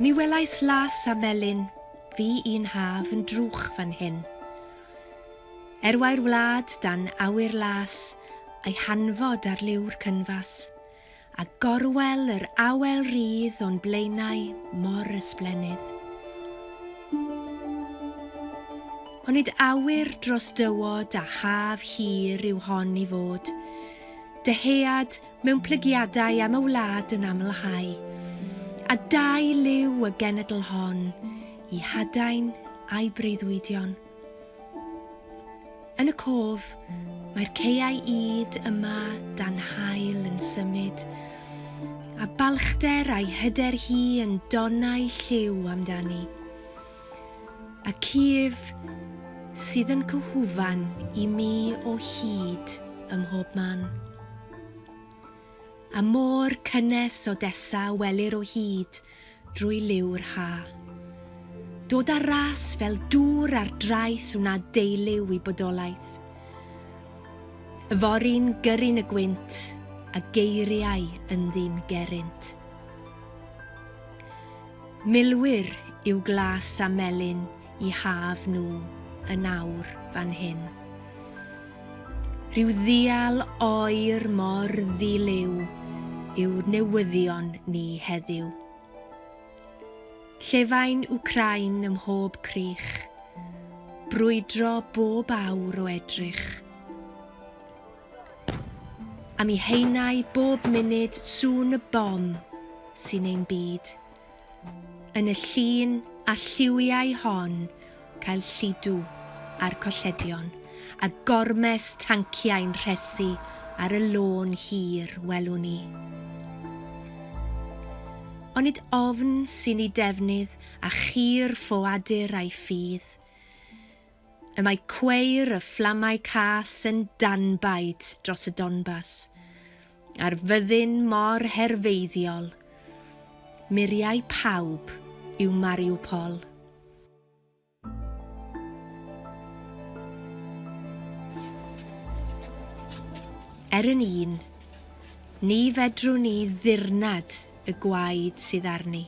Mi welais las a melyn fi un haf yn drwch fan hyn. Erwai'r wlad dan awyr las a'i hanfod ar liw'r cynfas, a gorwel yr awel rydd o'n blaenau mor ysblenydd. Onid awyr dros dywod a haf hir yw hon i fod, dyhead mewn plygiadau am y wlad yn amlhau, a dau liw y genedl hon i hadain a'i breuddwydion. Yn y cof, mae'r ceiau ŷd yma dan hael yn symud, a balchder a'i hyder hi yn donau lliw amdani. A Kiev sydd yn cyhwfan i mi o hyd ym mhob man. A môr cynnes Odessa a welir o hyd drwy liw'r ha. Dod ar ras fel dŵr ar draeth wna deiliw i bodolaeth. Yfory'n gyrru'n y gwynt a geiriau ynddi'n gerrynt. Milwyr yw glas a melyn i haf nhw yn awr fan hyn. Rhyw ddial oer mor ddi-liw yw newyddion ni heddiw. Llefain Wcrain ym mhob crych, brwydro bob awr o edrych. A mi haenai bob munud sŵn y bom sy'n ein byd. Yn y llun a lliwiai hon cael lludw ar colledion a gormes tanciau'n rhesi ar y lôn hir welwn i. Onid ofn sy'n i defnydd a chir ffoadur a'i ffydd? Y mae cweir y fflamau cas yn danbaid dros y Donbas, a'r fyddin mor herfeiddiol. Muriau pawb yw Mariupol. Er yn un, ni fedrwn ni ddirnad y gwaed sydd arni.